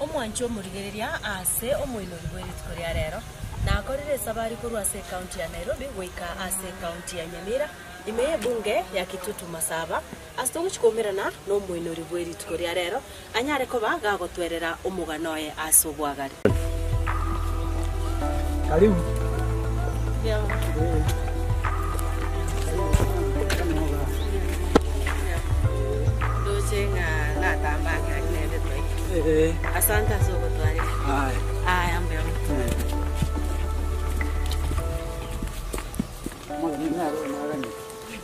Omwancho omorigereria aase omoinori bwe rituko ria rero nakorire esabari korwa ase ekaunti ya Nairobi goika ase ekaunti ya Nyamira ime ye ebunge ya Kitutu Masaba as'te ogochia koumerana nomoinori bwe rituko ria rero anyare koba gagotwerera omogano oye ase obwagare.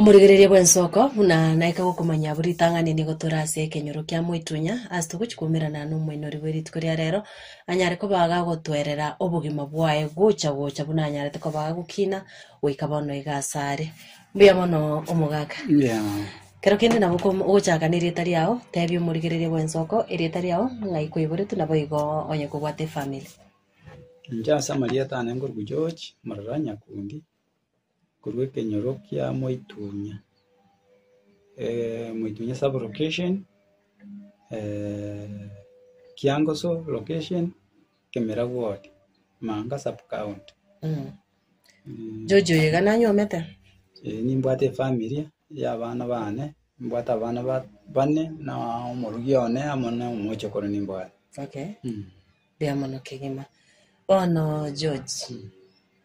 Omoregereria bw'ensoko buna naika gokomanya abwo ritang'ani nigo tore ase ekenyoro kia moitunya, ase togochi koumerana n'Omoinori bwe rituko ria rero, anyare kobaga gotwerera obogima bwaye gocha gocha buna anyarete kobaga gokina goika bono iga ase are. Mbuya mono omogaka. Mbuya mono. Kero kende nabo kom- ogochaka nerieta riao, tebia omoregereria bw'ensoko erieta riao ng'ai kweiboretwe nabo igo onye kobwate efamiri. Inche ase amarieta ane nkorwa George, omorero o Nyakundi. korwa ekenyoro kia moitunya, moitunya sub location, kiangoso location, kemira ward, manga sub county. George oyo iga nanyomete. Eeh nimbwate efamiri ya abana bane, nimbwate abana ba- bane na omorokia one amo na omochokoro nimbwate. Okay, mbuya mono kegima. Bono George,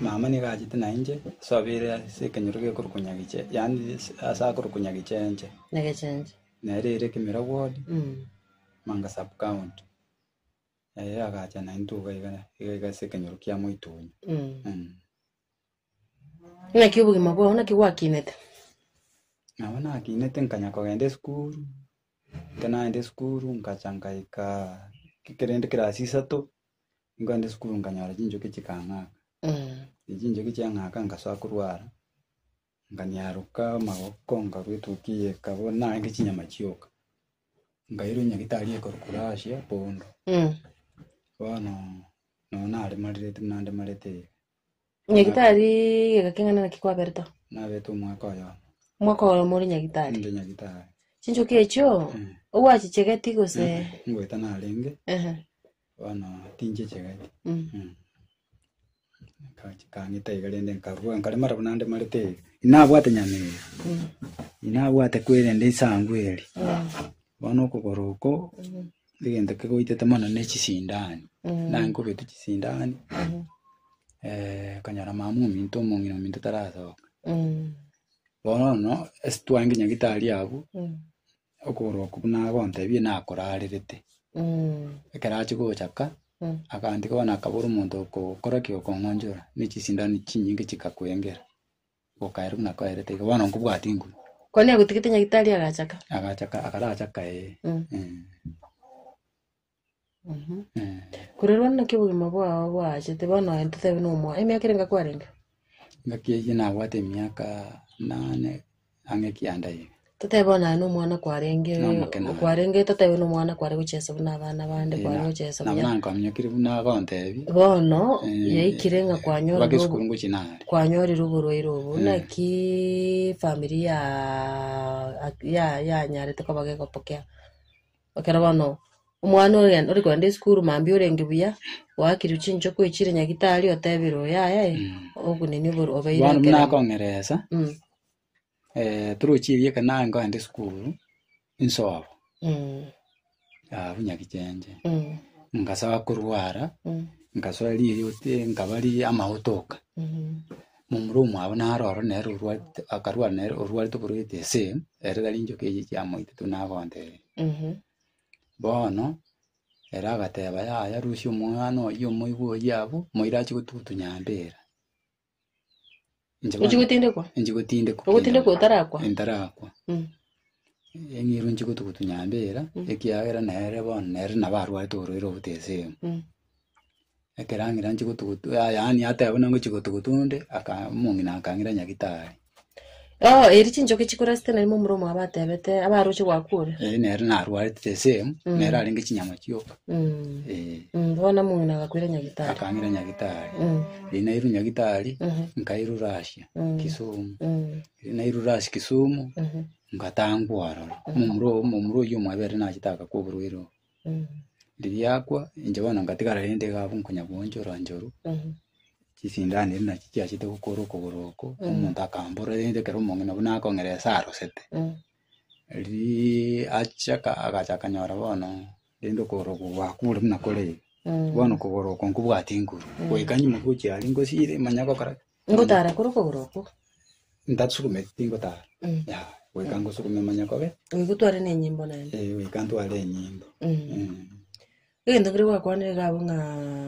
mama nigo achete na inche, so abeire ase ekenyoro gekorokwa Nyagiche, yaani ase akorokwa Nyagichenche. Nyagechenche. Nere ere Kemira ward, Mm. Manga sub county. Ere agacha na intwe iga iga iga iga ase ekenyoro kia Moitunyo. Mm. Mm. Naki obogima bwao naki gwakinete? Nabo nakinete nkanya kogenda esukuru, ekero nagenda esukuru nkacha nkaika kere rende class isato, Nkagenda esukuru nkanyora chinchoki chikang'aka, ne chinchoki chiang'aka ngasoa korwa ara, nkanyaroka amagoko nkarwa etoki eye ekaba narenge chinyama chioka. Nkairwa nyagitari ekorokoro ase epondo, bono nonyaremarete buna ndemarete iga. Nyagitari geka king'ana naki kwaberete? Naberete omwaka oyomo Omwaka oyomo ore nyagitari. inde nyagitari Chinchoki echio Mm. ogwachichegeti gose? ngoeta narenge Ehe. bono tinchichegeti Mm. Mm. Nkachi- kang'ita iga rende nkarua nkaremara buna ndemarete iga inabwate nyama eye Mm. inabwate kwerende esangu eri Mm. bono okogoro oko egento kegoitete mono ne chisindani, naki nkobekwa chisindani, okonyora mama ominto omong'ina ominto tarasoka. Bono ase twagenda nyagetari abwo, okogoro okwo buna agontebia nakorarerete. Ekero ache gocha ka, akantiga bono akabora omonto okokora ki? Okong'onchora, ne chisindani chinyinge chikakwengera. Gokaera buna nakoerete iga, bono nkobwati nguru. Konya gotigete Nyagitari agachaka. Agachaka, akarachaka ee. Mm. Mm. Mhm. Mm. Korerwa naki obogima bwao bwaachete bono aye ntotebe na omwao. Emiaka ere nga kwarenge? Ngaki eyio nabwate emiaka nane ang'e ekianda iga. Totebe bono aye nomwana kwarenge Nomokina. kwarenge totebe nomwana kware gochesa buna abana bande Eh, kware na- gochesa nabo buya nankominyokirie buna agontebia bono Eh, yaikire ng'a oba kwanyorire obo- gesukuru ngochi nare kwanyorire oborwaire obo Mm. naki famiri ya ya- yanyarete koba gegopokea ekero bono omwana oye ore kogenda esukuru mambia orenge buya oakire chinchoko oichire nyagitari oteberwe yaya eh, Mm. okunini obor- obeire bono buna ekero akong'eresa Mm. torochirie ekero naye nkogenda esukuru, nsobo, abwo nyagichenche, ngasoa korwara, ngasoa rirote nkaba riria amagote oka, momura omwabo naro ororo nere orwarete akarwara nere orwarete oborwarete ase ere tari enchoka echi chiamoitete buna agotebirie. Bono ere agateba yaya rusia omwana oyio omoigwe oyio abwo, moira achie gotugutunya ambera. Inche bono- Inche gotindekwa? Inche gotindekwa. Ogotindekwa otarakwa? Ntarakwa. Mm. Eng'irwa inche gotugutu nyambera, ekiagera nere bono nere nabo arwarete oborwaire obotesegwe. Mm. Ekero ang'ira inche gotugutu, ya- yaani ateba buna ngochi gotugutu onde, aka- omong'ina akang'ira nyagitari. Oo, eri chinchoki chikorasete nari momura omo abatebete, abaroche gwaku ore. Eh, nere narwarete the same, Mm. nere arenge chinyama chioka. Mm. Eh, Mm, bono omong'ina agakwera nyagitari. akang'ira nyagitari. Mm. Riria nairwe nyagitari, Mhm. nkairura asia Mm. Kisumu. Mm. Riria nairure asia Kisumu, Mhm. ngatangwa ororo. Momura oyo- momura oyio omwabere nachete agakoborwa ere oo. Rigiakwa, inche bono ngatigara rende iga abwo nkonya goancha oranchoro, chisindani eria nachio chiachete gokora okogoro oko, omonto akambora rende ekero omong'ina buna akong'ira ase arosete. Riria achia ka- agacha akanyora bono rende okogoro oko gwakure buna kore iga, bono okogoro oko nkobwate nguru, goika nyuma gochia aria ngosire manya gokora ki? Ngotara kore okogoro okwo. Ntasukume tingotara. Mm. Ya, goika ngosukume manya kobe. Goika otware na enyimbo naende. Eh, goika ntware enyimbo. Mm. Mm. Egento kere gwakwanire iga abwo ng'a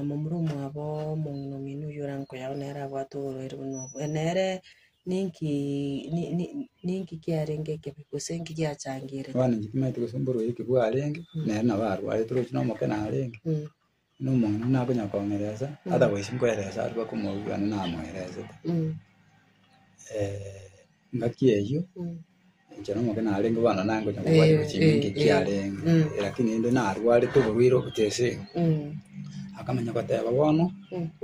momura omwabo omong'ina omino oyio orankoyao nere abwate oborwaire buna obo. Eh, nere ninki ni- ni- ninki kiarenge ekebe gose nki giachangire? Abana inche timanyete gose mborwaire ki bwarenge, nere nabo arwarete oroche na omokera arenge. Mm. Nomong'ina nakonya komoeresa, atagochi koeresa aria bakomoigwera namoeresete. ngaki eyio, inche nomokina narenge bono nangonya kobwateba chiminto ekiarenge, lakini rende narwarete oborwaire ogocha ase iga. Akamanya goteba bono,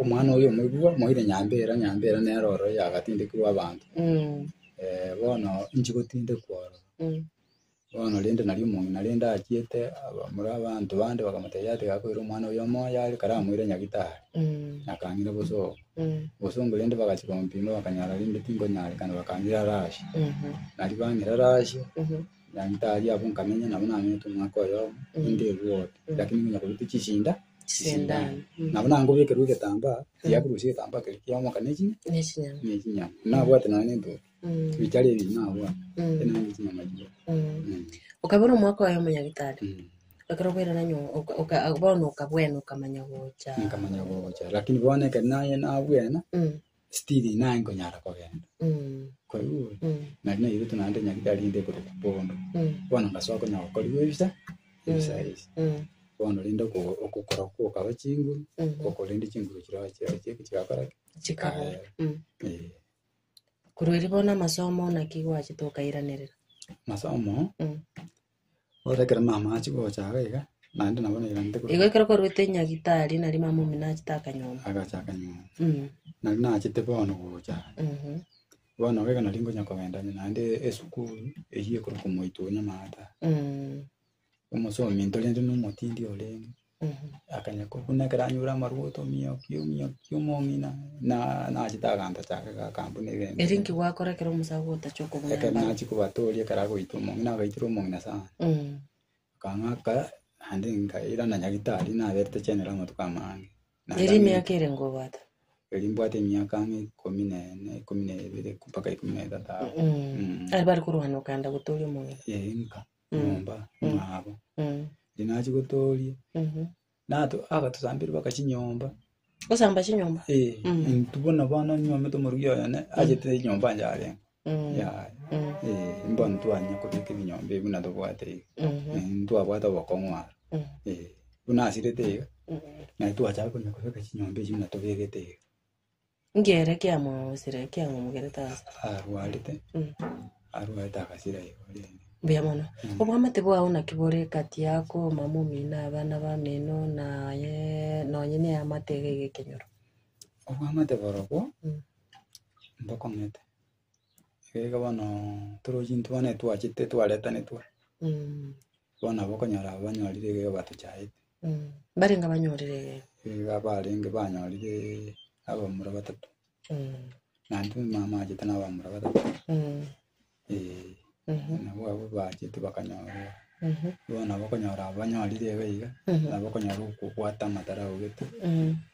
omwana oyo omoibwa, moire nyambera, nyambera nere oro yagatindekirwe abanto. bono inche gotindekwa oro. Bono rende nari omong'ina rende achiete abamura abanto bande bakamotebia ati gakoire omwana oyo omoyo are kare amoire nyagitari, na akang'ira bosongo. Bosongo rende bagachia komopima bakanyora rende tinkonyarekana bakang'ira are asye. Nari bang'ira are asye, nyagitari abwo nkamenya nabo namenyete omwaka oyomo, rende erwori, lakini nkonya korutwa chisinda chisindano. Nabo nankobekerwa egetambaa, tiakorusia egetambaa keria kiamoka ne chi- ne chinyama. Nabwate nonya nentuki. Ebitari ebi nabwo ekero nabete nyama chiria. Mm. okaba ore omwaka oye omonyagitari Mm. ekero bwerana nyo oka- oka- bono okabwena okamanya gocha Nkamanya gocha lakini bono ekero naye nabwena Mm, still naye nkonyara kogenda. mm, Koigwa? mm, Nari nairete naende nyagitari rinde ekoroka bondo. mm, Bono ngasoa konya gokoriwa ebicha, ebicha ebi. mm, Bono rinde oko- okokora okokaba chinguru, mm. okore rinde chinguru chirochio chiakoraki? Chikaba. Kaere. Mm. Eh. Korwa erio bono amasomo naki gwachete okairanerera? Masomo, Mm. bosa ekero mama achia gocha iga iga, naende nabo nairanete korwa Igo ekero kwarwete nyagitari nari mama omino achete akanyomba. agacha akanyomba. Mm. Nari nachete bono gocha, Mhm. bono iga iga nari ngonya kogenda naende esukuru, eyio ekorokwa Omoito oo nyamata. Mm. Omosomi ntorente na omotindi orenge, akanya ko- buna ekero anyora amarwa otomiyoki omiyoki omong'ina, na nachete aganto chake gaka mbwe na ebere Eri inki gwakora ekero omosago otache okobuna Ekero embaro? nachia kobatooria ekero agoita omong'ina agaitera omong'ina sana. Mm. Akang'aka naende nkaira na nyagitari naberete chenero amatuko amange. Naende Eri ame- emiaka ere ngobwata? Eri mbwate emiaka ang'e ikomi na ene, ikomi na ebere mpaka ikomi na etato aho. Mm. Mm. Are bari korwana okanda gotoria omong'ina? Ee, nka. nyomba mwabo. Riria nachia gotooria, Mhm. nato agatosamberia mpaka chinyomba. Gosamba chinyomba. Eh, Mm. intwe bono bono nyomete omorugi oyo ne, achete enyomba yane yarenge. Mm. Yaya. Mm. Eh, mbono twanyia kobeka ebinyomba ebi buna tobwate iga. Mhm. Eh, ntwabwate obokong'u aro. Mm. Eh, buna asirete iga, Mm. naye twachaka konya kobeka chinyomba echi buna tobegete iga. Ngere kiamwausire, kiang'omogerete aase. Arwarete, Mm. arwarete agasira igoro rende. Mbuya mono. Obwamate bwao naki bore egati yako, omama omino, abana bamino, naye nonye ne eamate iga iga ekenyoro. Obwamate borobwo, Mm. mbokong'ete. Iga iga bono torochi intwe bono etwachete twaretanetwe. Mm. Bono aba okonyora aba banyorire egego batochaete. Mbarenge abanyorire egego. Iga barenge banyorire abamura batato. Na intwe mama achete na abamura batato. Ee. Nabo abwo bachete bakanyora. Bono aba okonyora aba banyorire iga iga, nabo okonyora okobwata amatara augete.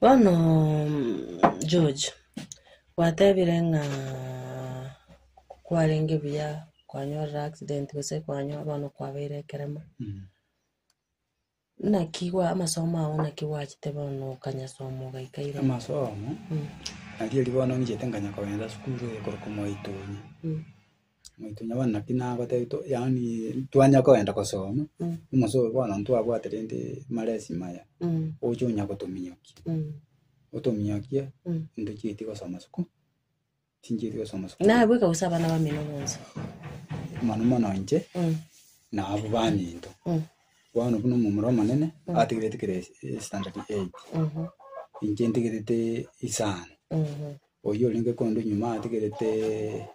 Bono George, gwatebire ng'a kwarenge buya kwanyorire accident gose kwanyo bono kwabeire ekeremo. Naki gwa amasomo ao naki gwachete bono okanyasooma ogaika ira? amasomo Mm. narieri bono ngichete nkanya kogenda sukuru eye korokwa mwaitonya Mm. mwaitonya bono naki nagotebia to yaani twanya kogenda gosoma Mm. omosa oyo bono ntwabwate rende maresi maya Mm. oche onya gotominyokia Mm. otominyokie Mm. intwe chiaeti gosoma suku Chinchiri ase omosuku. Nabweka gose abana bamino bonsi. Mono mono inche Mm. na abo baminto. Mm. Bono buna omomura omonene ategerete kera es- esitandati eight. Mhm. Inche ntegerete isano. Mhm. Oyio orenge kondo nyuma ategerete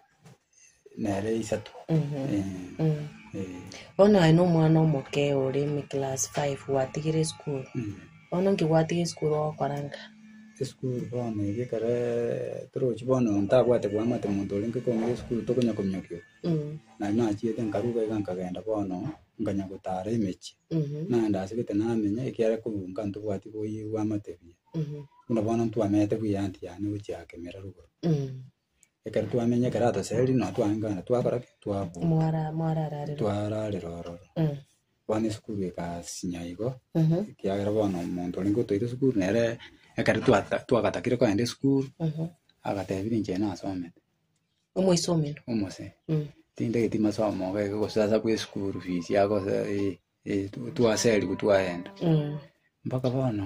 nere isato. Mhm. Eh, Mm. eh, Bono aye nomwana omoke ore ime class five gwatigire esukuru. mm. Bono inki gwatiga esukuru ogokoranga? Esukuru bono eye ekero torochi bono ntabwate koamate omonto oria inke komoira esukuru tokonya kominyokia obo. Nari nachiete nkarwa iga iga nkagenda bono nkanya gotara emechie. Nagenda asegete namenya ekiagera korwa nka ntobwati koyia oamate buya. Buna bono ntwamete buya anty yane gochia ake emerero igoro. Ekero twamenyire ekero ataseri nabo twagankana twakora ki? Twabunga. Mwara, mwarararerwa. twararera ororo Mm. bono esukuru egasinya igo Mhm. ekiagera bono omonto orenge otoeire esukuru nere ekero twata- twagatakire kogenda esukuru Mhm. agatebire inche nasomete Omoisomero. omose Mm. tindageti masomo iga iga gose ase bwa esukuru fees iga gose eh, eh, twaseriwu twagenda Mm. mpaka bono.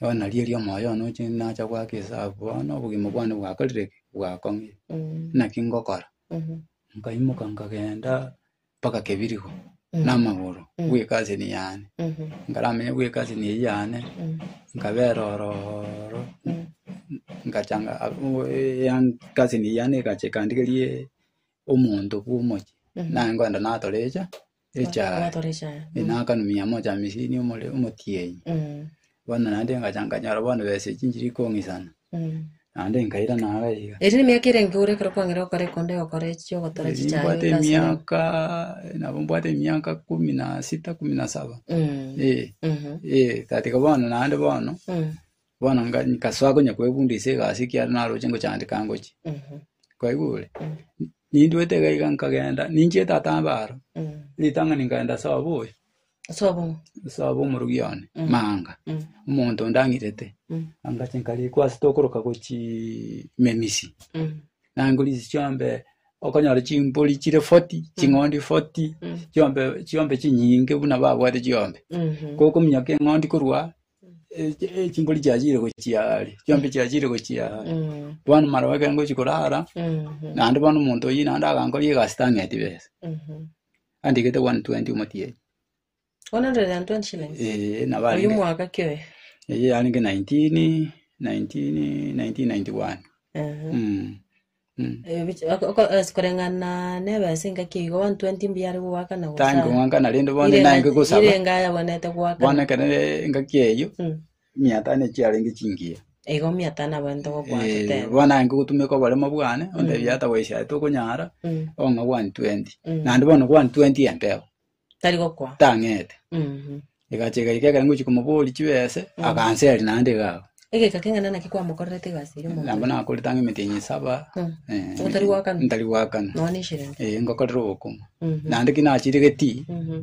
Bono nario erio omoyo one oche nacha goaka esabu, bono obogima bwane bwakorire ki? Bwakong'ire. Naki ngokora? Nkaimoka nkagenda mpaka Kebirigo na amagoro bwe ekasini yane. Nkaramenye bwe ekasini eyio yane, nkabera oro oro, nkachanga abwo eyang- ekasini eyio yane egacha ekandigeria omonto bwa omochie, naye ngoenda natorecha. echae Gwatora echae. enakanu mia moja hamisini omore omotienyi Mm. bono naende ngacha nkanyora bono besa echi nchiri kong'isana Mm. naende nkaira naro iga Eri nemiaka ere enke ore ekero kwang'ire gokora ekonde ogokora echi chi'ogotora Eri chichaye mbwate ase ere. emiaka nabo mbwate emiaka kumi na sita kumi na saba Mm. Eh, Mhm. eh, tatiga bono naende bono Mm. Bono nga- nkasoa konya kwebunda ase egasi ekiagera naroche ngochandeka ngochia. Kwaigwa ore? Ninduete iga iga nkagenda, ninchiete tata mbe aro, ritang'ani nkaenda ase obo oyo, Sobo. ase obo omorogia one, Maanga, omonto onde ang'irete. Angacha nkarikwa ase tokoroka gochii memisi. Nangwe risi chiombe, okonyora chimbori chire forty, ching'ondi forty, chiombe chiombe chinyinge buna babwate chiombe. Kokominyoka eng'ondi korwa Eh, chi- eh, chimbori chiachire gochia are chionsi chiachire gochia are Mm. bono maroba ekero ngochi korara Mhm. naende bono omonto oyio naende agankoria egasi tang'eti besa Mhm. andigete 120 omotienyi 120 shillings. Eh, nabo Oyu arenge- mwaka kioe. eh, arenge 19 19 1991 Mhm. Mm. Koreng'ana neba ense engaki igo, 120 mbuya are goaka na gosaya. Tango goaka naende bono Ire naenge engaki- gosaba. Ire enga yabwenerete goaka. Bono ekero engaki eyio, Mm. mia tano echio yarenge chingiya. Igo mia tano abwenerete gokoa Eh, totebe. bono naenge gotumeka oboremo bwane, ontebie Mm. hata goishaete okonyara, Mm. ong'e 120. Mm. Naende bono 120 enteo. Tari gokwa. tang'ete Mhm. egacha egaika ekero ngochia komoboria chibese Mm. akanseria naende iga iga Egeka keng'ana naki kwamokorerete egasi eria omonto nabo oyo. nakorete ang'e emetenya esaba Mm. eh, Otari goakana. ntari goakana Noone eshirenge. Eh, ngokorera obokong'u Mhm. naende ki nachirigetie Mhm.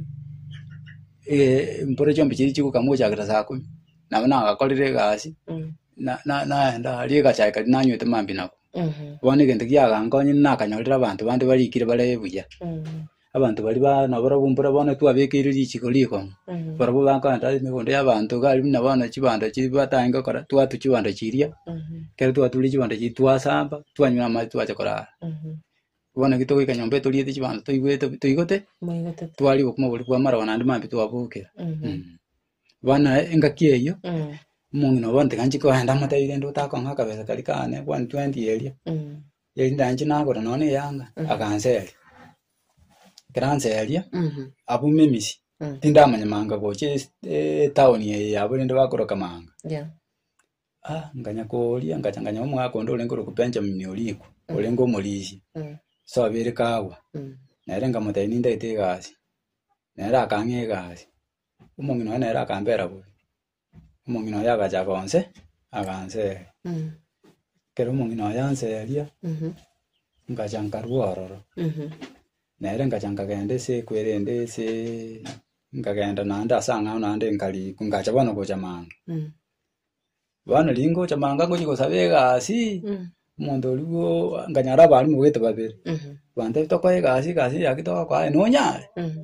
eh, mpore chiombe chiria chigokama gochakera saa kumi nabo nagakorire egasi Mm. na- na- naenda aria egachaka riria nanywete mambia nabwo Mhm. bono egento giagankonyire nakanyorire abanto bande barikire bare buya Mhm. Abanto baria ba- nabarabwo mbora bono twabekeire richiko rikong'u, barabwo bakogenda ase emegondo y'abanto iga aria buna bono chibando chiria batagete gokora, twatwa chibando chiria, ekero twatwire chibando chiria twasamba, twanywa amache twacha korara. Bono ekero togoika nyomba etoriete chibando toigwete bu- toigote, Moigotete. twaria obokima boria bwa amaroba naende maambia twabokera. Mm. Bono naye engaki eyio, omong'ina obo bono tiga nchikogenda amotebirie rende otakong'a akabesa karia kane kwani twenty eria, Erinde anche nagore nonya na eyanga, aganseria. Ekero anseria, abwo memisi, tindamanya manga gocha es- etown eye yabo rende bakoroka manga. Yeah. Ah, nkanya koria, nkacha nkanya omogaka onde orenge orokwa Benjamin Orikwa, orenge omorisia. Mm. So abere kagwa, Mm. nere nkamotebia nindagete egasi, nere akang'a egasi. Omong'ina oye nere akambera bobe. Omong'ina oye agacha gonse, aganseria. Mhm. Ekero omong'ina oye anseria, Mhm. ngacha nkarua ororo. Mhm. Nere ngacha nkagenda ase eku erende ase nkagenda naende ase ang'ao naende nkariku ngacha bono gocha mambia. Mhm. Bono rigocha mambia ngochia gosaba egasi, Mhm. Omonto oria bwo nkanyara abarimu bogete babere, Mhm. bantebete tokore egasi, egasi eya ki togokora aye nonyare? Mhm.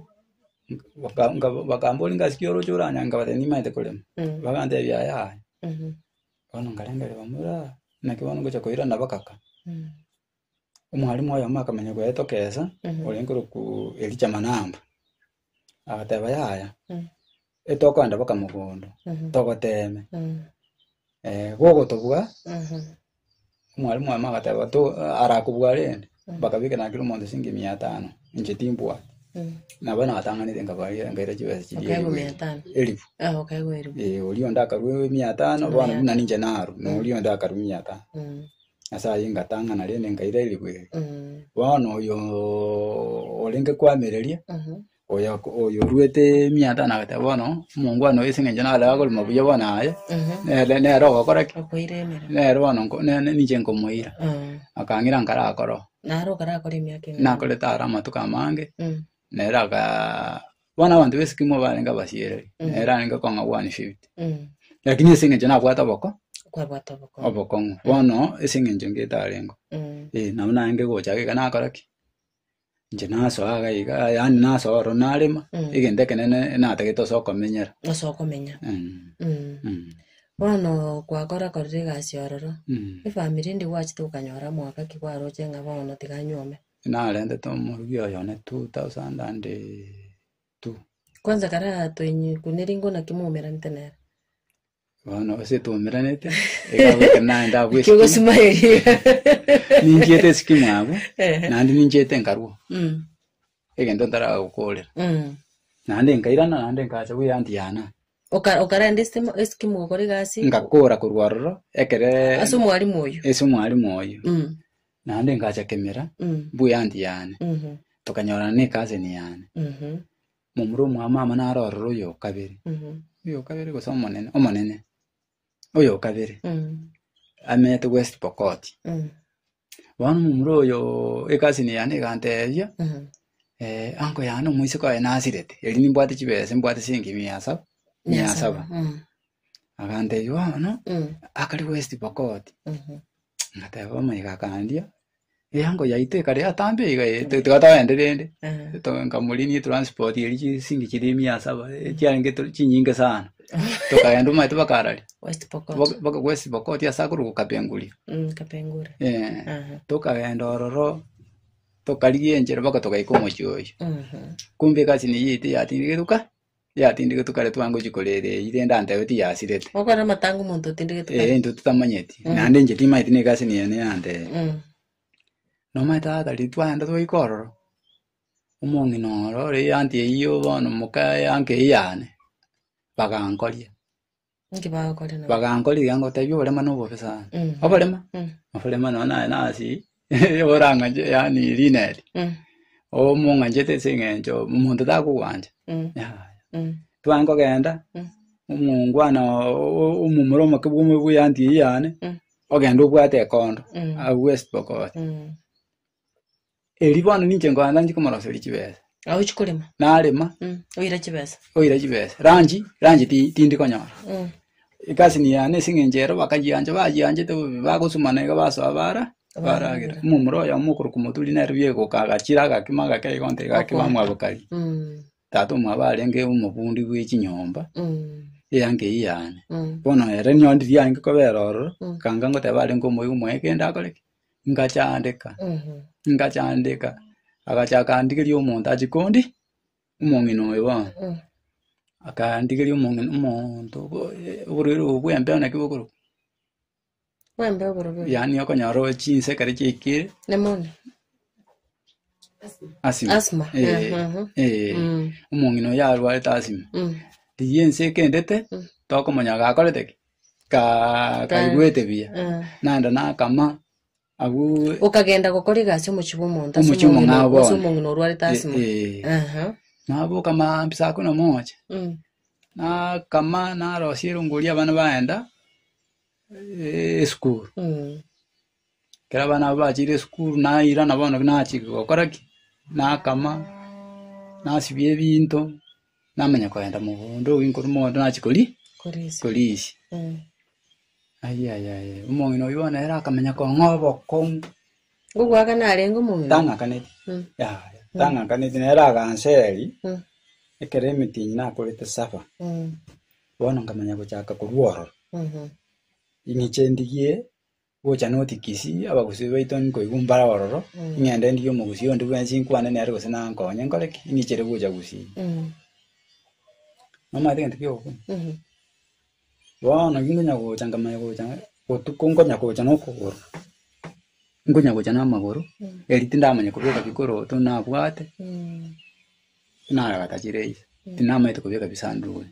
Baka- nka- bakambora egasi ki oroche oranyare, nkabatebia nimaete korema. Mhm. Bagantebia yaya. Mhm. Bono nkarengereria bamura, naki bono ngocha koirana bagaka. Mhm. Omwarimu oyomo akamenya koyetokesa, Mhm. orengerekwa Elijah Manamba. Agateba, Yaya, Mm. etokogenda boka mogondo, Mhm. togoteme. Mm. Eh, gogotobua, Mhm. omwalimu oye agateba, to arakobua rende, bakabeka nakire omonto esenge mia etano, inche timbua. Mm. Nabo natang'anete nkabaria nkaira chibesa chiria Okaigwa elifu mia etano. elifu. Ah, okaigwa elifu. Eh, oria onde akarwa mia etano, bono Mia buna ninche naru, na oria onde akarwa mia etano. Mm. Ase ayio ingatang'ana rende nkairairigwa ere. Mm. Bono oyo orenge kwamereria Mhm. oyo oyo oruete emiata nagoteba bono omongwana oyo ase eng'encho nare akorema buya bono aye Mhm. nere nere ogokora ki Okoira emeremo. nere bono nko- ne- ne- ninche nkomoira Mm. akang'ira nkarakore oo Naro okarakora emiaka eng'ana. nakorete aro amatuko amange Mm. nere aka bono abanto b'esikimo barenge abasiereri Mm. nere arenge okong'a 150 Mm. lakini ase eng'encho nabwate oboko Kwabwata oboko. obokong'u bono ase eng'encho ngetarengo Mm. Eh, nabo narenge gocha iga nakora ki inche nasoa iga iga yaani nasoa ororo narema Mm. egento ekenene natagete ase okomenyera Ase okomenya. Mm, Mm. mm, Bono gwakora korire egasi ororo. mm. Efamiri ndi gwachete gokanyora mwaka ki gwaroche ng'a bono tiga nyuome. Narentete omorubi oye one 2002. Kwanza kare aa toinyikwe neri ngona ki mwaumeranete nere? Bono gose twaumeranete, iga goika naye ndabua Ekio esiki. gosimaeria. Ninchiete esiki mwabwo, Ehe. naende ninchiete nkarua. Mm. Egento ntaragokorera. Mm. Naende nkairana naende nkacha buya anti yana. Oka- Okarenda esitimo- esikimu gokora egasi Ngakora korwa ororo, ekere ase omwalimu oyo. ase omwalimu oyo. Mm. Naende nkacha kemera mbuya anti yane, tokanyorana nekaseni yane. Momura omwamama naro ororo oyokabere, oyokabere gose omonene, omonene, oyokabere amete West Pokot. Bono momura oyo ekaseni yane egantebia, eh, anko yane omoiseke oye nasirete, eri nimbwate chibesa, nimbwate siringi mia saba, mia saba. Agantebia bono, akare West Pokot. Ngateba omoika akandia, eango yaito ekare yatambe iga eh, ti- tiga togende rende. Eh. To- Nkamorinia etransport eria chisink chiria mia saba, eh, chiarenge to- chinyinge sana. Tokagenda omanyete bakarari, West Pokot. baka- baka West Pokot ase akorokwa Kapenguria. Mm, Kapengura. Eh, Aha. tokagenda ororo, tokarigia enchera mpaka togaika omochie oyio. Mhm. Kumbe egasi neyio yaito yatindigete goka. Yatindigetwe kare twangochia korera eyio, rende antebe tiyasirete. Okwana amatanga omonto otindigetwe kare. Eh, intwe tutamanyeti. Mm. Naende inche timaeti na egasi niye niye ante. Mm. Noma tata ri twagenda twaika ororo. Omong'ina oro ore anti eyio bono moka yanke eyane. Bagankoria. Inki bagokora nabo? bagankorigia ngotebi oborema na obobe sana Mm. oborema Mm. oborema nonya naye nasi oborang'anche yani rineri Mm. omong'anchete ase eng'encho omonto takogwancha Mm. Yaya. Mm. tware kogenda Mm. omongwana omomura omoke bwa omo- bwa eanti eyio yane Mm. ogenda obwate ekondo Mm. agwo esibokoti Mm. Erio bono ninche nkoancha ninche komoroseria chibesa. Nabo chikorema. Narema. Mm. Oire chibesa. Oire chibesa. Ranji, ranji ti tindi konyora. Mm. Ikasi ni yana esing'enche ero bakajianja bajianjete bobe bagosumana iga basoa bara baragira. Mumura oyo mukuru kumoturi nero biegoka agachira agakima agake igonte igakima mwa bokari. Mm. Tata omwabo arenge omobundi bwe chinyomba. Mm. Eyange iyane. Mm. Bono ere nyondi riange kobera ororo. Mm. Kanga ngoteba arenge omoigu moye kende akoreke. Ngachaandeka, ngachaandeka. Agacha akandigeria omonto achi kondi, omong'ina oyo bono. Akandigeria omong'ina omonto obo- eh, oborwaire obo bwa embeo naki bokorokwa. Bwembe oborobio. Yaani okonyora oe chinsa ekero chiaikire, Nemone. asima. Asthma, Eh, eh, mhm. eh. Mm. Omong'ina oyo arwarete asima. Mm. Riria ense ekendete, tokomanya gakorete ki? ka- kaigwete buya Ah. naende nakama abwo okagenda gokora egasi omochie bwa omonto ase Omochie omong'ina omong'ao ase bono. omong'ina orwarete asima Eh, eh. Aha. naboka maambia saa kumi na moja Mm. nakama narosia erongori abana baenda eh, esukuru Mm. Ekero abana abwo bacheire esukuru nairana bono nachia gokora ki? Nakama, nasibia ebinto, namanya kogenda mogondo, obuya nkorwa mogondo nachia kori korisia. Ayia yaya yaya, omong'ina oyio bono ere akamenya kong'a obokong'u, Ngogwaka narenge omong'ina. tang'akaneti, Mm. yaya, tang'akaneti, nere aganseri, Mm. ekero emetinyi nakorete saba, Mm. bono nkamanya gochaka korwa ororo, Mhm. ing'icha endigie Ngocha noti Kisii, abagusii baito nkoigwa mbare ororo, ing'ende ndigie omogusii onde bwensi nkwane nere gose nankonye nkore ki? Ing'ichere gocha Gusii. Nomanyete egento ki'ogokuna? Bono ki nkonya gocha nkamanya gocha botuko nkonya gocha na okogoro, nkonya gocha na amagoro, eri tindamanya kobeka bikoroto nabwate, naragata chire ise, tinamanyete kobeka bisanduguni.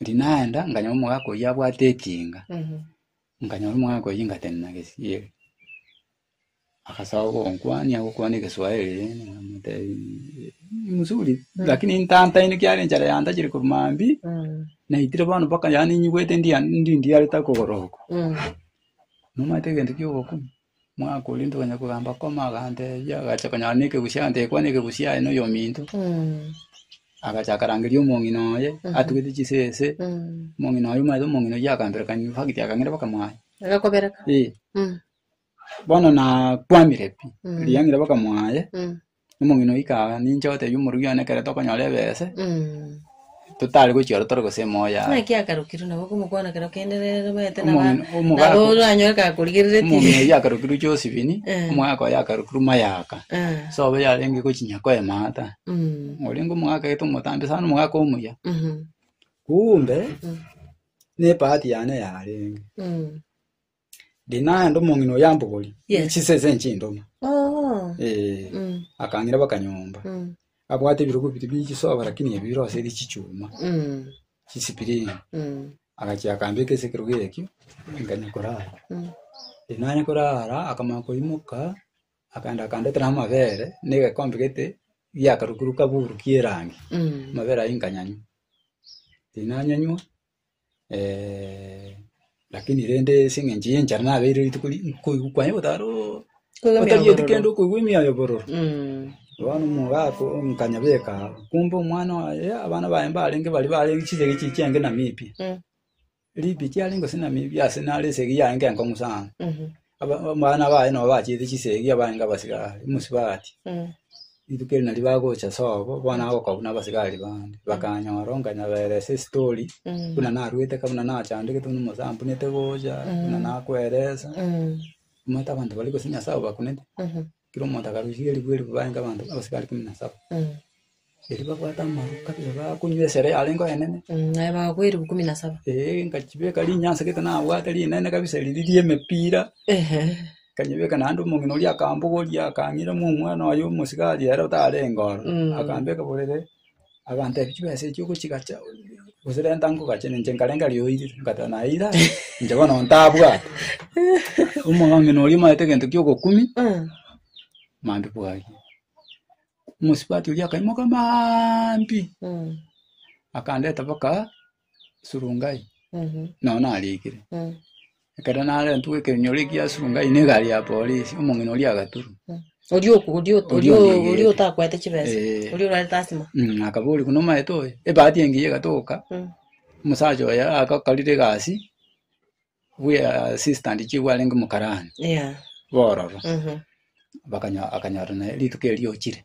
Eri naenda nkanyora omogaka oyio abwate etinga, nkanyora omogaka oyio ngatenena gesieri. Agasoa gonkwania gokwana egeswaeri rende namotebia "Eh, ni mzuri lakini ntantaine kiare enchara yantachire korwa mambia naitire bono mpaka yaani nyigwete ndia- ndi- ndiarete akogoro oko. Nomanyete egento ki'ogokuna? Omwaka oria ntoganya kogamba koma agante erio agacha konyara nekegusia agante ekwana ekegusia aye noyo ominto agacha akarangeria omong'ina oye atugete chisese omong'ina oye omanyete omong'ina oye akamberekani fagiti akang'ira baka mwaye agakobereka ee bono nakwamire pi riang'ira baka mwaye Omong'ina oika aa, ninche otebia omorugi one ekero tokonyora ebese, totari gochia aro tore gose emoyo yaye. Naki akarokirwe nabo okomokwana ekero kende nere omanyete naba Omong'ina- omogaka- nabo oranyore Omong'ina kakorigereretie. oyio akarokirwe Josephine, Eh. omogaka oye akarokirwe Mayaka. Eh, Sobo yarenge gochinya koemata. mm, Orenge omogaka gete omotambe sana, omogaka omuya. mhm, Kumbe, Mm. nebahati yane yarenge. mm, Ndi naende omong'ina oyo ambogori Yes. chinsa ense enche endoma. Oh. Eh, Mm. akang'ira baka nyomba. Mm. Abwate ebirogo biri bichisoba lakini ebio birose eri chichuma, Mm. chisipirini. Mm. Agachia akambeka ase ekerogo ekio, nkanya korara. Mm. Ndi nanya korara, akamanya koimoka, akaenda akandetera amabere, na egekombe gete giakarukuruka buruki erangi. Mm. Amabere ayio nkanyanywa. Ndi nanyanywa, Lakini rende ase eng'encho y'enchara nabeire rituko ri koigwa kwaye gotara oo, Koigwa emiayo otagieti kende bororo. okoigwa emiayo bororo. Mm. Bono omogaka oo nkanyabeka aa, kumbe omwana oye abana baye mbarenge baria barenge chisegi echi chiange namibie. Mm. Ribie chiarenge gose namibie ase nare esegi yaye nkengong'u sana. Mhm. Aba- Abana baye nabo bachiete chisegi abaange abasigari mosibati. Rituko eri nario bagocha sobo bono agokobuna abasigari bande bakanyora onkanyaberesa esitori buna narwete ka buna nachandegete buna mosampunete gocha buna nakweresa omanyete abanto baria gose nyasae obakunete Kera omonto akarusia eribu eribu barenge abanto abasibare ikomi na saba. Erio babwate amaru kabisa bakonywa esere yarenge oenene. naye bagakwa eribu kumi na saba Ee, nkachibeka rinyansa gete nabwate rinene kabisa riri riemepira. ehe Nkanyebeka naende omong'ina oria akambogoria akang'irema omwana oye omosigari ere otarenge ororo. Akambeka borere. Abanto ebi chibesa echi ogochigacha, gose renta ngogache, na inche nkarenga riroyo oirire. Nkabwata, naira, inche bono ntabwate. Omong'ina oria omaete egento ki'ogokumia, maambia bwaaria. Omosubati oria akaimoka maambia, akandeta mpaka Surungai, nao narikire. Ekero narentwe ekenyoro ekia Surungai na egari ya polisi, omong'ina oria agaturwa. Oria oku- oria ot- Oria oria- ondiegete. oria otakwete chibesa Eh. oria orarete asima Mm, akaboria buna omaete oyo ebahati engiya egatoka Mm. omosacha oyo agakorire egasi bwe assistant chief arenge omokarani Yeah. bororo Mhm. bakanya- akanyora naye rituko erio ochire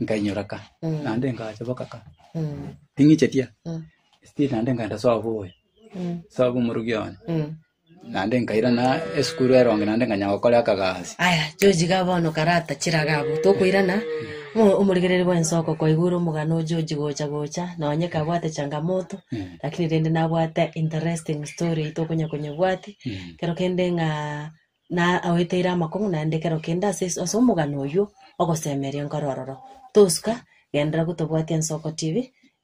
nkainyora ka naende ngacha boka ka ting'ichetie still naende nkaenda soa boy soa bw'omorogi one naende nkairana esukuru eronge naende nkanya gokora akagasi aya George iga bono karata chiraga abwo tokoirana omo- omoregereri bwense okokoigure omogano o George gocha gocha nonye kabwate changamoto lakini rende nabwate interesting story tokonya konyebwati ekero kende ng'a na agoeteire amakong'u naende kero kende ase ase omogano oywo ogosemeria nkoro ororo. Tosuka genderera gotobwati Ensoko TV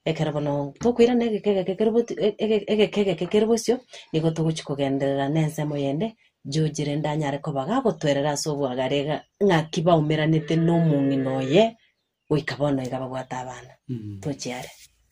ekero bono tokoirana egeka egeke kere bot- e- e- egeka egeke kere bosio nigo togochi kogenderera na ensemo yende George rende anyare koba gagotwerera ase obwagare iga ng'aki baumeranete na omong'ina oye goika bono iga babwate abana. Tochia are.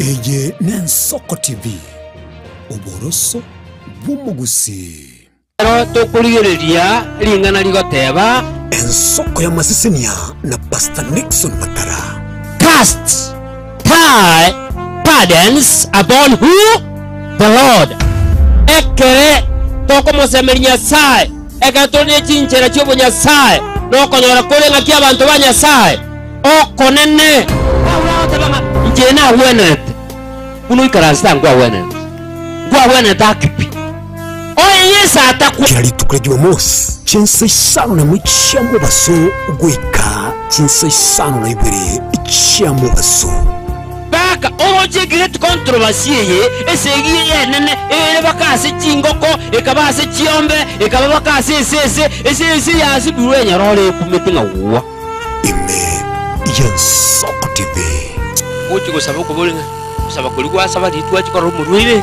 Eye n'Ensoko TV, oboroso bw'omogusii. Ekero tokorigereria ring'ana rigoteba, Ensoko y'amasesenia na Pastor Nixon Makara. Cast. Thy burdens upon who? The Lord. Ekere tokomosemeria Nyasae, ekero tore ne chinchera chi'obonyasae, na okonyora kore ng'aki abanto ba Nyasae okonene. Paulo agoteba ng'a inche nagwenerete, buna oikaranse tangwagwenereti, ngwagwenerete ake pi. Oyo Yeso atakwa. Kera rituko ria Jumamosi, chinsa isano na emo chia mobaso goika chinsa isano na ibere chia mobaso. Baka oroche egireti kontrobasi eye, esegi eye enene, ere baka ase chingoko, ekaba ase chiombe, ekaba baka ase esese, esese yasiburwe enyara ore ekumete ng'a gwa. Ime ya nsoko tibe. Gochi gosaba okobori ng'a, Gosaba kori gwasaba ritwachi korora omorwaire.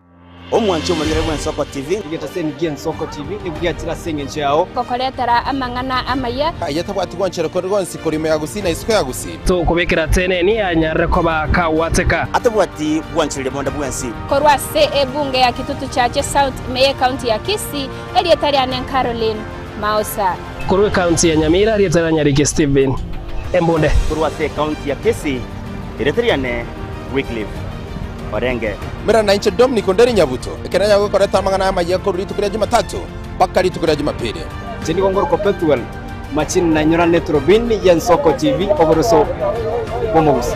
Omwanche omonyene bw'Ensoko TV. Egetaseni ki'Ensoko TV nekobwatire ase engencho yao. Ngokoretera amang'ana amaya. Aye tabwati gwanchera kore gonsi kore ime ya Gusii na isiko ya Gusii. Tokobekera ateneni anyarere koba akagwateka. Atabwati gwanchereria bonda bwensi. Korwa ase ebunge ya Kitutu Chache South ime ye county ya Kisii, erieta riane Caroline Maosa. Korwa ecounty ya Nyamira erieta ria Nyariki Stephen Embunde. Korwa ase ecounty ya Kisii erieta riane Wycliffe. orenge. Mbwera na inche Dominic onde rinyabuto, ekero naye agokoreta amang'ana aya amayia korwa rituko ria Jumatatu mpaka rituko ria Jumapili. Inche nigo ngoroka Pethuel, machine nainyora ne Turubin y'Ensoko TV, Oboroso bw'Omogusi.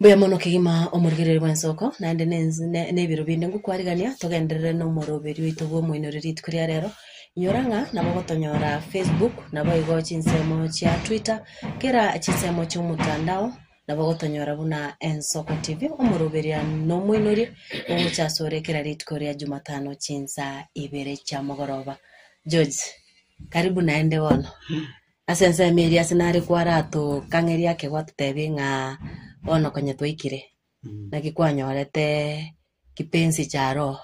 Mbuya mono kegima omorigereria bw'ensoko, naende nense- ne- nebiro binde ngokwarigania togenderere nomoroberi oito bw'omoinoro rituko ria rero, inyora ng'a nabo ogotonyora facebook, naboigo chinsemo chia twitter, kera chinsemo chi'omotandao, Nabo gotonyora buna Ensoko TV, omoroberia na omoinoria, ogocha asore kera rituko ria Jumatano chinsaa ibere chia mogoroba. George, karibu naende bono. Ase ensemo eria ase nare kwaratokang'eria ake gwatotebie ng'a bono konya twaikire, naki kwanyorete kipenzi cha roho.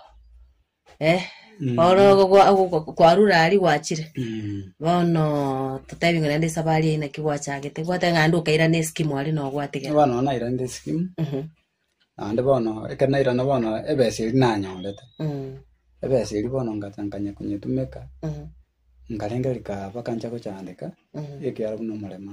Eh, Mm. oro ogo gwa- ogo gwa- kwarure aria gwachire Mm. bono totebi ng'a naende esabari eye naki gwachagete gwate ng'a naende okairana eskimu aria nogwatigera bono nairande sikimu Mhm, naende bono ekero nairana bono ebesa eri nanyorete mm, ebesa eri bono ngacha nkanya konyetumeka mhm, nkarenge rikaba kancha gochandeka mm. ekiara buna omorembe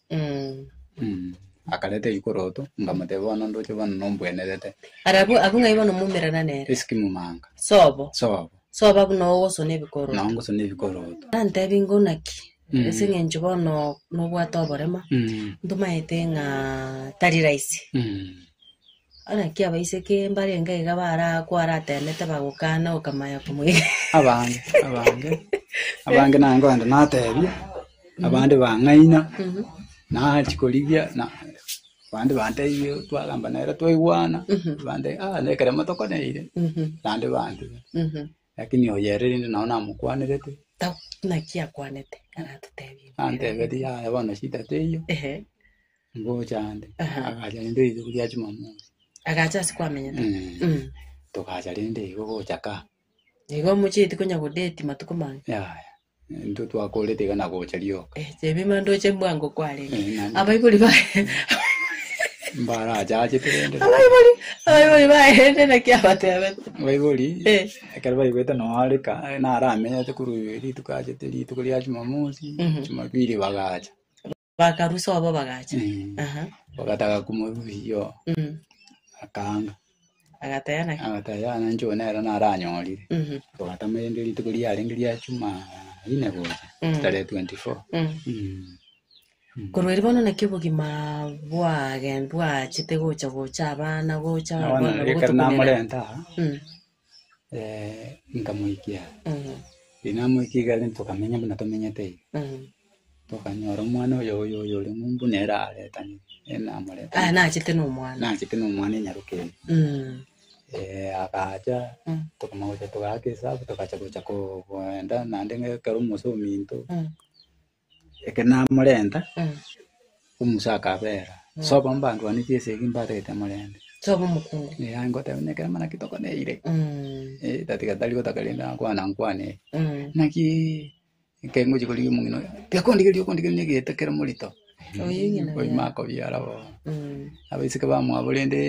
Akareta eikoroto, nkamotebia, Bono ndoche bono nombwenerete. Barabwo abwo ng'ai bono moumerana nere? Esike momanga. Sobo. Sobo. Soba buna ogosona ebikoroto. Nao ngosona ebikoroto. Nantebie ingo naki, Mm. ase eng'encho bono nobwate oborema, Mm. ntomaete ng'a tari rahisi. Mm. Naki abaiseke mbarenge iga baraakwa aratenete bagokana gokamaya komoigera. Abange, abange, abange naye nkogenda natebia, abande bang'aina, nachia korigia, na abande bantebia twagamba nere twaigwana, abande ah nekeremo tokoneire, naende bantigana. Lakini oyo ere rende nao namokwanerete, Tau, naki akwanete aratotebie. antebetie, Yaya bono shida teiyo, Ehe. ngocha ande. Aha. Agacha rende rituko ria Jumamosi. Agacha ase kwamenyete. Mm. Mm. Togacha rende igo gocha ka. Igo omochieti konya godeti matuko mange. Yaya. Intwe twakorete iga na gocha rioka. Eh, chebima ndoche bwango kwarenge. Eh, nani? Abaibori ba Mbarachachete rende. abaibori abaibori baende naki abatebete. Baibori, Eh. ekero baigwete noareka, naramenyete korwa rituko achete rituko ria Jumamosi, Mhm. Jumapili bagacha. Bakarusa obo bagacha. Mm. Aha. Bagataka komorusia oo, Mm. akanga. Agataya naki. Agataya yana inche oyo nere naranyorire. Mhm. Twatama rende rituko riarenge ria Jumaine gocha, Mm. tarehe 24. Mm. Mm. Korwa eri bono naki obogima bwage bwachete gocha gocha abana gocha Abana abana ekero gotukunera. namorenta aa, Mm. nkamoikia. Riria namoikia igare tokamenya buna tomenyete iga. Tokanyora omwana oyo oyo oyo ore ng'umbu nere aretanire, nere namoretania. Aya nachete na omwana. Nachete na omwana enyaroke eye. agacha tokamanya gocha togaaka esabu togacha gocha ko- goenda naende ng'a ekero omosee ominto. Ekero namorenta, omosa akabeera, soba mbandwanirie esegi mbarete morente. Soba omokungu. Eh, aye ngoteba, nekero mana ki tokoneire? Eh, tatiga tari gotaka rende akwana nkwane ere. Naki ekero ngochia korigia omong'ina oye, tiga kondigeria okondigeria na egeeta kere morito. Oyio ng'ina Oyio oye. makobiara bo. Abaiseke bamwabo rende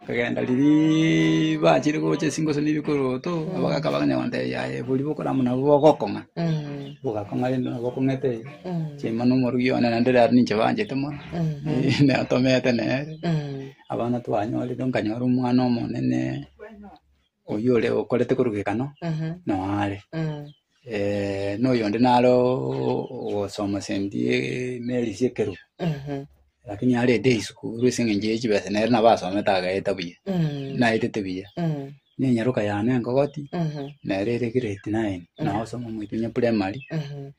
Bakagenda riria bachire gocha ase chingoso na ebikoroto, abagaaka bakagenda bakamotebia, Aye, boria bokorama nabwo bogokong'a. Bogakong'a rende nabo okong'ete chiima na omorugi one, naende riaria ninche banchete mono, natomete nere, abana twanyorire, nkanyora omwana omonene. Oyio ore okorete korwa gekanwa noare. Eh, na oyonde naro ogosoma sendi emeri ase ekerubu. Lakini arete esukuru ase eng'encho ye chibesa nere nabo asomete agaeta buya. Naetete buya. Na enyaroka yane engogoti nere ere grade nine. Nagosoma moito onye primary.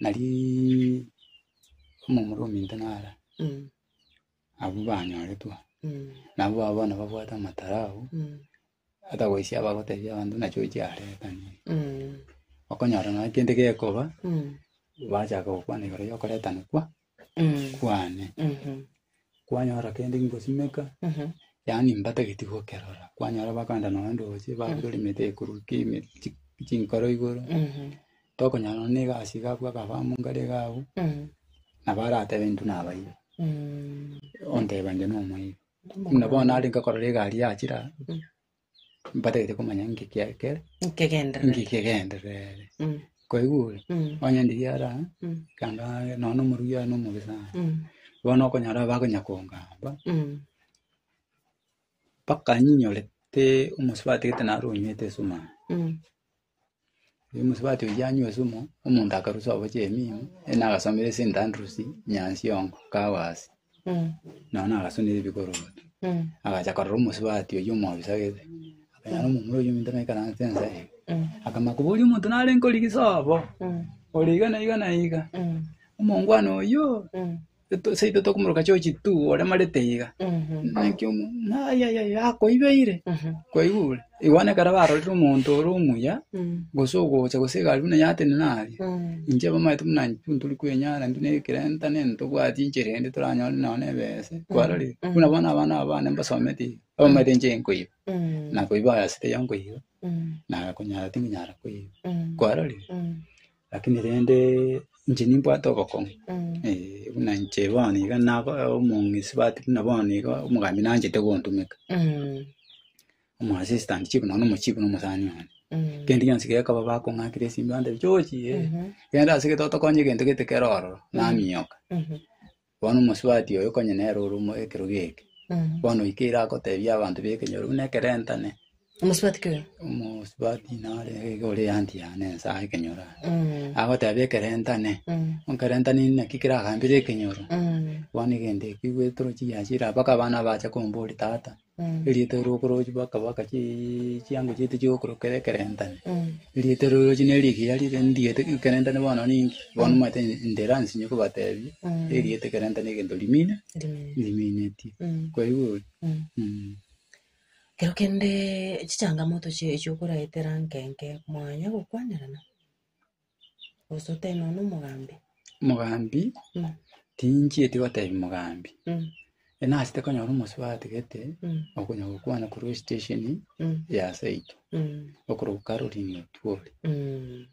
Narii omomura ominto nara, Mm. abwo banyoretwe aa. Mm. Nabo aba bono babwate amatara abwo, Mm. ata goisia abagotebia abanto ng'a nachi oche aretane. Mm. Okonyora nonya kende gekoba, Mm. bachaka gokwana igoro yokoretanekwa, Mm. kwane Mhm. kwanyora kende nkosimeka Mhm. yaani mbatageti gokerora kwanyora bakanda nonya ndoche babutora emete ekorwa ki- eme- chi- chinkoro igoro Mhm. tokonyora nonya egasi iga abwo akafamu nkare iga abwo Mhm. nabo aratebe intwe nabaiba Mm. onteba inche nomoibi buna bono nare nkakorora egari yachira Mbatagete komanya nki kiakere, nkegenderere. nki kegenderere. Mm, Kwaigure? mm, Onye ndiria ara, mm, ekanga nonya omoruya oye nomobe sana. mm, Bono okonyora abakonya kongamba, mm, mpaka nyinyore te omosubatigete naro onywete esumari. mm, Omosabato oyio yanywa esumu, omonto akarusia obochie emiino, yaani agasomera ase St. Andrews Nyansiongo kago aase. Nonya nagasunera ebikorogoto, agacha korora omosubati oyio omobisa gete, akanyora omomura oyio ominto naikaranse ensa eye. Akamanya koboria omonto narenge origise obo, ore iga na iga na iga, omongwana oyio. Eto seito tokomoroka chochi tu oremarete iga. Naki omo ayayaya akoibeire. Kwaigure. Igo bono ekero barorire omonto ore omuya gose ogocha gose egari buna yatenena aria. Inche bamaete buna intwe ntori kwenyara intwe ne kerenta nini tobwati enchera ende toranyore nonya ne ebese. Kwarorire? Buna bono abana aba bane mbasomete iga. Abamaete inche nkoiba. Nakoiba ase taiyo nkoiba. Nagakonyara tinkoyara koiba. Kwarorire? Lakini rende inche nimbwate obokong'u, eh, buna inche bono iga nabo omong'isibati buna bono iga omogambi nanchete gontumeka, omoassistant chief nonya na omochief na omosani one. Kende gionsi gekoba bakong'akire esinto bantebia, George, eh, genda ase gete otokonye egento gete kere ororo, namioka. Bono omosubati oyo konya nere ore omo ekerogo eke, bono oikeire agotebia abanto b'ekenyoro buna ekerentane, Omosubati ki oyo? omosubati nare iga ore eanti yane ense aa ekenyoro aa. Mm, Agotebia ekerentane, mm, okerentane naki keragambire ekenyoro, mm. bono egento ekio gwetorochia giachire mpaka abana bache komboria tata. Erieta eri okorochi bakaba bakachi chiango chiaito chi'okorokwa ere ekerentane. Erieta eri orochi neri rigiya rire ndigete ekerentane bono ninki, bono omanyete ndere ase inwe kobatebia, erieta ekerentane egento rimine, riminetie. Kwaigwa ori? Mh. Ekero kende chichangamoto chie echio okoraetera nke nke mwanya gokwanerana. Gose otebe nonya na omogambi. Mogambi, Mm. tinchieti gotebia mogambi. Mm. E nasete konyora omosubati gete, Mm. okonya gokwana korwa estationi Mm. ya seito, Mm. okoroka Caroline Otuori. Mm.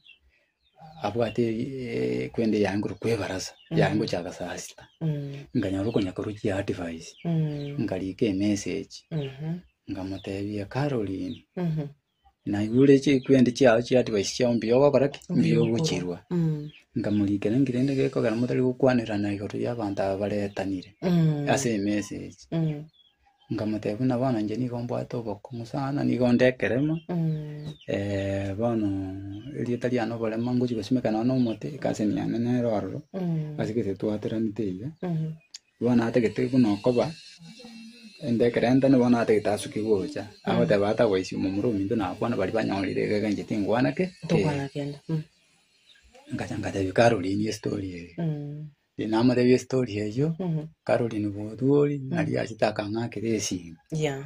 Abwate eh, kwende yaengire kwa ebarasa, Mm. yaye ngocha agasasita. Mm. Nkanyora okonya korwa chiadvice, Mm. nkariika emessage, Mhm. nkamotebia Caroline, Mhm. Naigure chikwendi chiao chia advice chiao mbuya ogokora ki? Mbuya ogochirwa. Nkamorikera ngire rende gekogera motari gokwanerana igoro y'abanto aba baretanire ase emesa echi. Nkamotebia buna bono inche nigo mbwate obokong'u sana, nigo onde ekerema, bono erieta riane oborema ngochia gosimeka nonya na omote, ekasemi yane nere ororo, ase gete twateranete iga. Bono atagete buna okoba ende ekerenta nigo bono atagete asukigwe gocha, agoteba atagoisia omomura ominto na abakwana baria banyorire egeka inche tingwana ki? Tokwana kende. Mm. Nkacha nkatebia Caroline estory eye. Mm. Riria namotebia estory eyio, Mhm. Caroline bwotuori, nari achete akang'akera esimi. Yeah.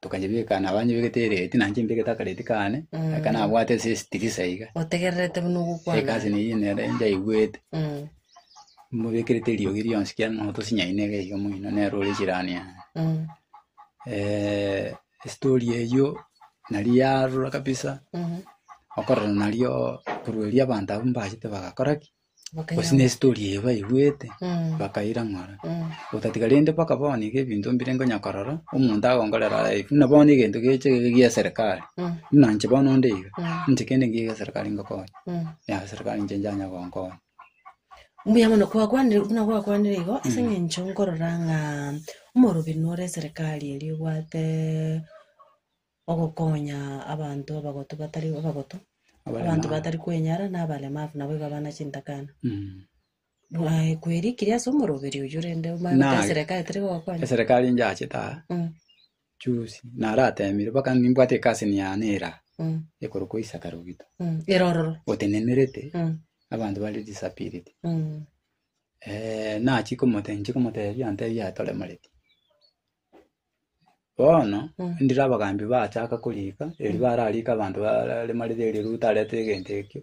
tokanyebeka nabanyebegete erate na inche mbegete akarate kane Mm. aka nabwate ase estirisa iga otegererete buna ogokwana egasi neyio nere njaigwete Mm, mobekerete eriogi rionsi kiagera nabo tosinyaine iga iga moino nere ore jirani yane mm, Eh, estori eyio nari yarora kabisa mhm, okorora nario korwa erio abanto abwo mbachete bagakora ki gose ne story eye baigwete bakairang'ora otatiga rende mpaka bono iga ebinto mbire ngonya korora omonto agonkorera live buna bono egento geche iga gia serikali buna inche bono onde iga inche kende ngiya egia serikali ngokonya yaya serikali inche njanya gonkonya Mbuya mono kwakwanire buna gwakwanire igo ase eng'encho nkorora ng'a omorobini ore eserikari eria obwate ogokonya abanto abagotu batari abagotu, Abaremabu. abanto batari kwenyara, na abaremabu naboigo abana chintakana. Bwae kwerikirie ase omoroberi oyio rende omanye Na- gose eserekari teri gogokonya. Eserekari inchachete aa Mm, juzi naratemire mpaka nimbwate ekasini yane eraa mm, ekorokwa Isaka Rogito mm. Erororo. otenenerete Mm, abanto bare disability mm. nachia komote nchie komotebia antebia toremoreti Bono ndire abagaambi baachaka koriika, erio barariike abanto bare mariri erio riria otarete egento ekio,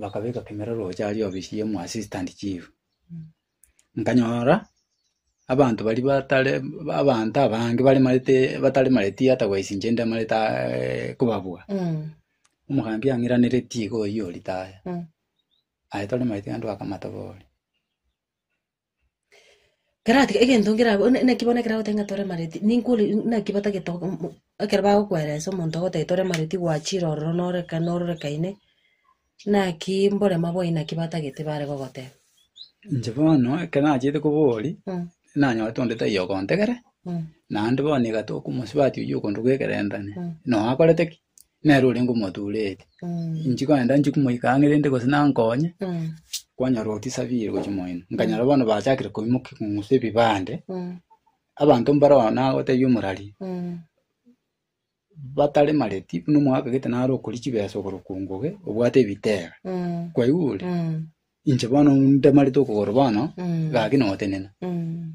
bakabeka kemererooche aria ofisi y'omo assistant chief. Nkanyora abanto baria batare abanto abange baremarete bataremareti ata goika inche ndemarete aaeee kobabua. Omogambi ang'iraneretie iga oyio o retire, aye toremareti gento akamatoba ore. Kerati egento nkerabe bono naki bono ekero agotebi ng'a tore amareti, ninkore naki batagete go mo ekero bagokweresa omonto ogotebia tore amareti gwachire ororo nore ka norore kaine, naki mborema bwa aina ki batagete bare gogoteba. Inche bono ekero nachete kobori, nanyorete onde taiyo ogontegera, naende bono iga tokomosubati oywo okonde goekerenta ime, noyo akorete ki? nere orenge omotuureti inche kogenda inche komoika ang'e rende gose nankonye kwanyora otisabire gochia moino nkanyora bono bachakire koimoka kong'usa ebibande abanto mbare oo nagotebia omorari bataremareti buna omogaka gete nare okori chibesa okorokwa nguge obwate ebitera kwaigure Inche bono ndemarete okogoro bono, Mm. gaki notenena. Mm.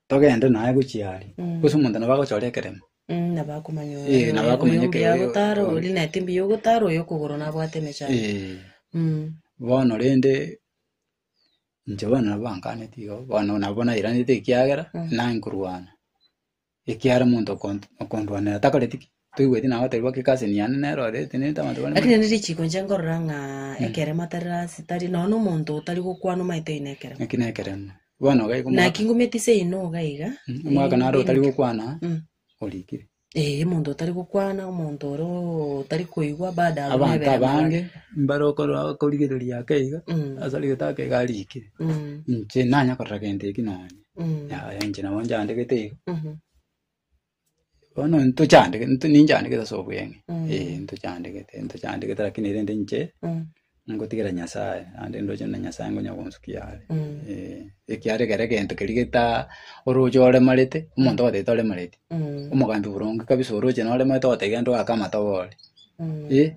Togende naye gochia aria. Mm. Gose omonto nabo agochora ekeremo. Mm, nabo akomanya Eh, oyo- nabo oyo- akomanya oyo ekero- yagotara oyo- ori naete mbuya ogotara oyo okogoro nabwate emechando Eh, Mm. bono rende inche bono nabo bankaneti igo, bono nabo nairanete ekiagera, Mm. nanye korwana. Ekiagera omonto okont- okondwanera takoreti ki? Toigweti nagoterigwa ki kase niane nere orete nete abanto bare Lakini nere richiiko inche nkorora ng'a ekeremo tari rasi, tari nonya na omonto otari gokwana omanyete oyo nekeremo. Eki nekeremo. Bono gaiku omwaka- Naki ngumeti seino iga iga. Mm, omwaka naro otari gokwana Mm. orikire. Eh, omonto otari gokwana, omonto oro otari koigwa bado aro Abanto nebere amabare. abange mbare okorora okorigereria ake iga Mm. ase rigete ake iga arikire. Mm. Inche nanya korora gento eki nonya. Mm. Yaya inche nabo nchandegete igo. Mhm. Bono ntochandege nto- ninchandegete ase obweng'e. Mm. Eh, ntochandegete, ntochandegete lakini erende inche Mm. ngotigera Nyasaye, naende ndoche na Nyasaye ngonya gonsukia are. Mm. Eh, ekiagera ekero egento keria geta oroche oremarete, omonto ogoteba toremareti, Mm. omogambi boronge kabisa oroche noremarete ogoteba gento gaka amatoba ore. Mm. Eh,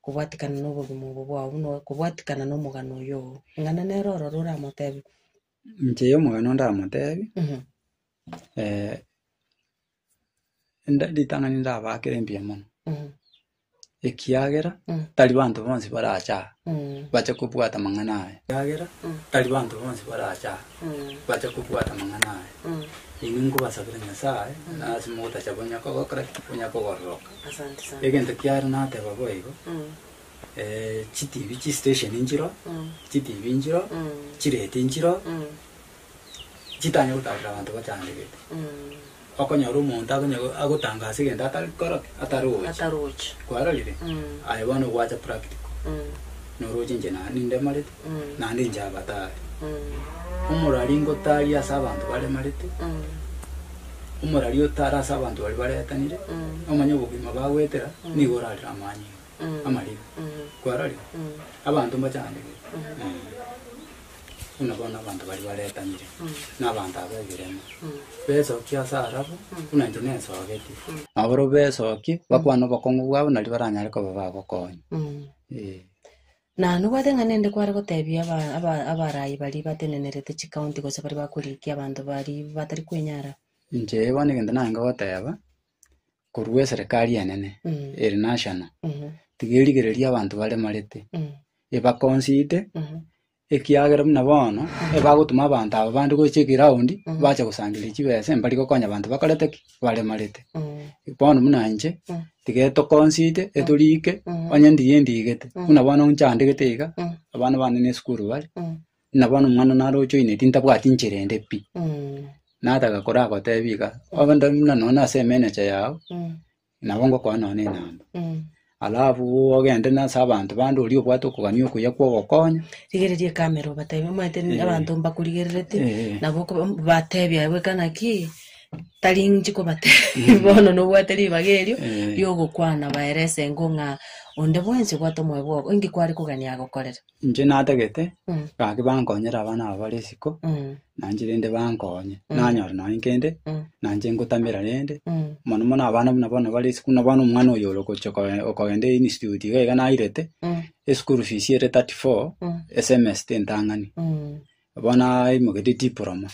kobwatikana nobogima obo bwao buna okobwatikana nomogano oyo oo. Ing'ana nere ororo oramotebe. Inche omogano ndamotebie, Mhm. eh, enda- ritang'ani ndabakere mbuya mono, Mhm. ekiagera Mm. tari banto bonsi barache aa, Mm. bache kobwata amang'ana aya, ekiagera Mm. tari banto bonsi barache aa, bache kobwata amang'ana aya, inwe nkobasabera Nyasae, ase mogotacha bonya kogokora ki? Bonya kogororoka. Asante sana. Egento kiare nateba boigo, Mm. eh, chitibi chistation nchiro, Mm. chitibi nchiro, Mm. chireti nchiro, Mm. chitanye gotaarera abanto bachandegete. Mm. Okonyora omonto akonya agotangasa egento atari korokia, atarochi. Atarochi. Kwarorire? Mm. Aye bono gwacha practical. Mm. Noroche inche na nindemarete. Mm. Naende inche abatare. Mm. Omorari ngotaria ase abanto baremarete. Mm. Omorari otara ase abanto bari baretanire. Mm. Omanye obogima bagwetera mm. nigo orarire amanyinga. Mm. Amarire. Mm. Kwarorire? Mm. Abanto mbachandegere. Mm. Mm. buna bono abanto baria baretanire, na abanto aba ebireema, besokie ase arabwo, buna inche nesogetie. Nabo barabwo besokie, bakwane obokong'u bwabo, nario baranyare koba bagokonya. Ee. Na nobwate ng'a nende kware gotebia aba- aba- abaraai baria batenenerete chikaonti gose baria bakorikia abanto baria batari kwenyara? Inche bono egento nare ngogoteba, korwa eserekari enene Mm. ere national Mhm. tiga erigereria abanto baremarete Mm. ebakonsite Mhm. ekiagera buna bono ebagotuma abanto aba bande gocha eground Mhm. bache gosangereria chibesa mbari gokonya abanto bakorete ki baremarete Mm. bono buna inche Mm. tiga etokonsite etorike Mhm. onye ndiye ndigete Mm. buna bono inche andegete iga Mm. abana bane na esukuru bare Mm. Buna bono omwana naro ochoine tintabwati nchera ende pi. Nataka koraa gotebi iga, obe ndo buna nonya ase emenecha yao, nabo ngokoa nonya enamba. Alafu ogende nonya ase abanto bande oria obwate okogania okuya kwa ogokonya. Rigereria ekamera obatebie omanyete abanto mbakorigerereti, Eh. nabo okoba- m- batebi aye bweka naki, tari inche kobatebia bono nobwate ribaga erio, Eh. riogokwana baerese engo ng'a onde bwensi obwate omoyo bwao, inki kware kogania agokorere. Inche natagete, gaki bankonyere abana aba bare isiko, nainche rende bankonye, nanyora nonye kende, nainche ngotamera rende, mono mono abana buna bono bare isiko, buna bono omwana oyo orogocha okoe- okogenda einstitute iga iga nairete, eschool fees ere thirty four, esemester entang'ani, bono aimoketie diploma,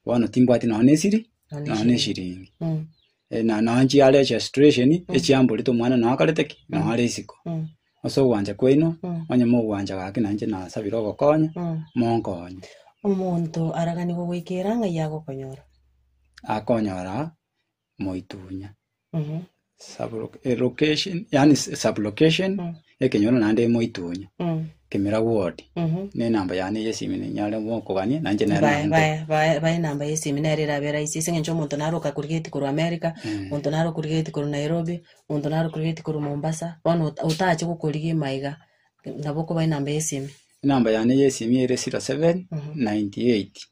bono timbwati nonya nesiri, Nonya nonya neshiringi. Mm. Eh, na nonya nchiare chia situation echiamborete omwana nonya akarete ki nonya are isiko Mm. ase ogwancha kwaino Mm. onye mogwancha gaki nainche nasabire ogokonya Mm. monkonye omonto araganigwe goikera ng'ai agokonyora akonyora moitunya. Sublo- eh, location, yani s- sublocation, ekenyoro naende moitunya. Kemira ward. Ne namba yane yesimi ninyare mokogania, nanche nero Bae- nande. bae- bae- bae enamba yesimi nere erabe rahisi ase eng'encho omonto naro okakurigeti korwa america omonto naro okurigeti korwa nairobi omonto naro okurigeti korwa mombasa bono ota- otache gokorigia ime aiga nabo okoba enamba yesimi Enamba yane yesimi ere 07 98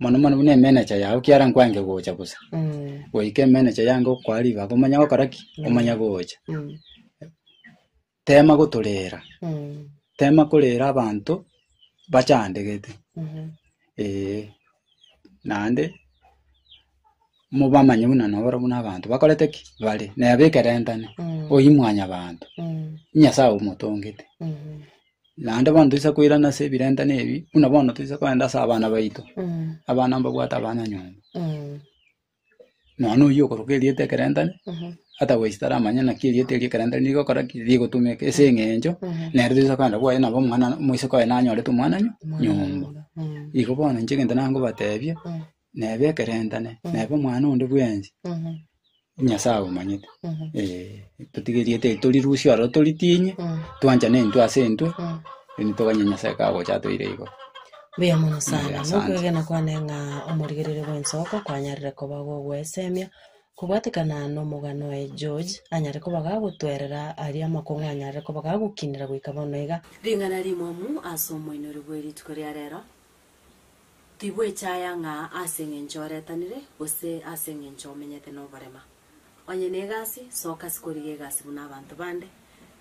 Mono mono buna emenecha yao kiara nkwange gocha bosa. Goika emenecha yange okoa ribaga omanya gokora ki? Omanya gocha. Tema gotorera, tema korera abanto bachandegete. Eeh. Naende, mobamanye buna noro buna abanto bakorete ki? Bare. Neba ekerentane. Oyio mwanyabanto. Nyasaye omotongete. Naende bono toisa koirana ase ebirentano ebi, buna bono toisa kogenda ase abana baito, abana mbabwate abanyanyomba. Nonya oyio okoroka erieta ekerentane, otherwise taramanye naki erieta erio ekerentane rigokora ki, rigotumeka ase eng'encho nere toisa kogenda kwaye nabo omwana moise koye nanyorete omwana nyo- nyomba. Igo bono inche egento nangobatebia. neba ekerentane, neba omwana onde bwensi, Nyasae abamanyete. Eh, totigeriete torirusie ororo toritinye, twanchane intwe ase intwe, then toganye Nyasae kagocha atoire igoro. Mbuya mono sana. Mbuya sana. Nokwegena kwane ng'a omorigererio bw'ensoko kwanyarire koba gogwesemia. Kobwatekana nomogano oye George, anyare koba gagotwerera aria amakong'u anyarire koba gagokinera goika bono iga. Ring'ana rimwamu ase omoinori bwe rituko ria rero, Tibwechaya ng'a ase engencho oretanire, gose ase engencho omenyete noborema. Onye negasi, soka sikorigia egasi buna abanto bande.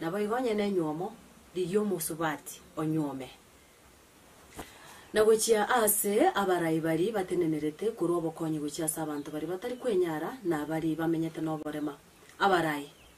Naboigo onye nenywomo, rigia omosubati onywome. Na gochia ase abarai baria batenenerete korwa obokonyi gochia ase abanto baria batari kwenyara, na baria bamenyete noborema, abarai.